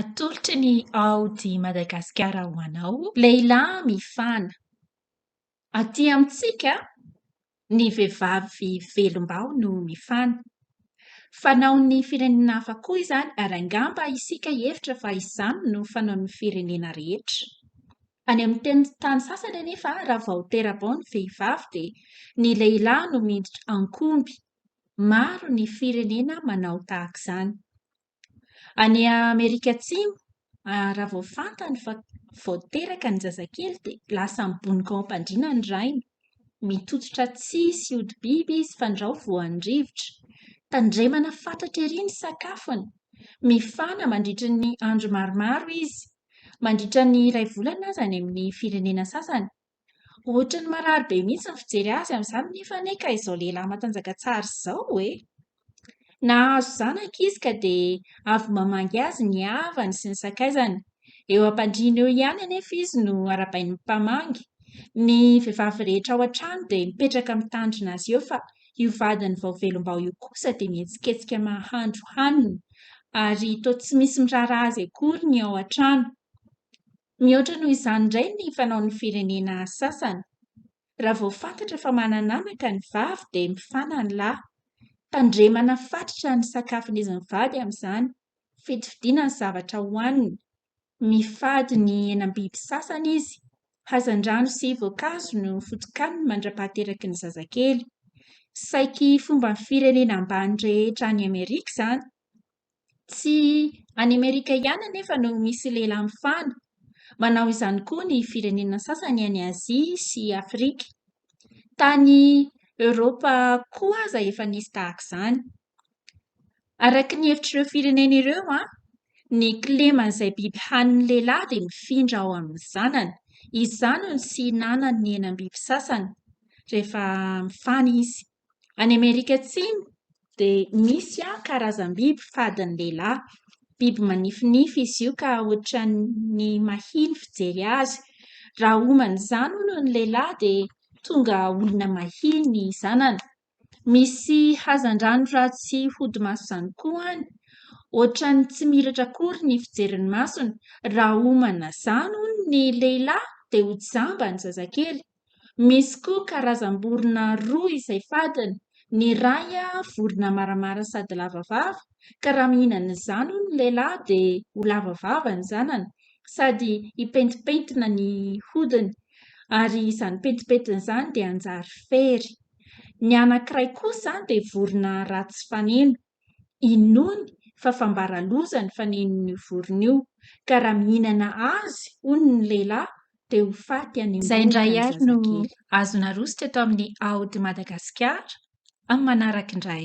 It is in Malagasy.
Atolotry ny aody Madagasikara ho anao, lehilahy mifana. Aty amintsika, ny vehivavy velom-baho no mifana. Fanaon'ny firenena hafa koa izany, ary angamba isika hihevitra fa izany no fanaon'ny firenena rehetra. Any amin'ny tenin-tany sasany anefa, raha vao tera-bao ny vehivavy, dia ny lehilahy no miditra an-komby maro ny firenena manao tahaka izany. Any Amerika Atsimo, raha vao fantany fa vao teraka ny zazakely dia lasa mibonoka ao am-pandriana ny rainy. Mitototra tsihy sy hodi-biby izy fandrao voan'ny rivotra. Tandremana fatratra ery ny sakafony. Mifana mandritra ny andro maromaro izy. Mandritra ny iray volana aza any amin'ny firenena sasany Ohatran'ny marary be mihitsy ny fijery azy amin'izany nefa anie ka izao lehilahy matanjaka tsara izao e! Nahazo zanaka izy ka dia avy mamangy azy ny havany sy ny sakaizany. Eo am-pandriana eo ihany anefa izy no arahabain'ny mpamangy. Ny vehivavy rehetra ao an-trano dia mipetraka mitandrina azy eo fa io vadiny vao velom-bao io kosa dia mihetsiketsika mahandro hanina ary toa tsy misy miraharaha azy akory ny ao an-trano. Mihoatra noho izany indray ny fanaon'ny firenena sasany. Raha vao fantatra fa manan'anaka ny vavy dia mifana ny lahy. Tandremana fatratra ny sakafon'izy mivady amin'izany, fidifidina ny zavatra hohaniny. Mifady ny henam-biby sasany izy. Hazandrano sy voankazo no foto-kaniny mandra-pahateraky ny zazakely. Saiky fomban'ny firenena ambany rehetra any Amerika izany Tsy any Amerika ihany anefa no misy lehilahy mifana. Manao izany koa ny firenena sasany any Azia sy Afrika. Tany Eoropa koa aza efa nisy tahaka izany. Araka ny hevitr'ireo firenena ireo, ny kileman'izay biby hanin'ny lehilahy dia mifindra ao amin'ny zanany. Izany no tsy ihinanan'ny henam-biby sasany rehefa mifana izy. Any Amerika Atsimo dia misy karazam-biby fadin'ny lehilahy. Biby manifinify izy io ka ohatran'ny mahia ny fijery azy. Raha omana izany hono ny lehilahy dia tonga olona mahia ny zanany. Misy hazandrano ratsy hody maso izany koa any. Ohatran'ny tsy miratra akory ny fijerin'ny masony. Raha omana izany hono ny lehilahy dia ho jamba ny zazakely. Misy koa karazam-borona roa izay fadiny, ny iray vorona maramara sady lava vava ka raha mihinana izany hono ny lehilahy dia ho lava vava ny zanany sady hipentipentina ny hodiny ary izany pentimpentina izany dia hanjary fery. Ny anankiray kosa dia vorona ratsy faneno. Inoany fa fambara loza ny fanenin'io vorona io, ka raha mihinana azy, hono, ny lehilahy, dia ho faty any Izay indray ary no azo narositra eto amin'ny Aody Madagasikara amin'ny manaraka indray.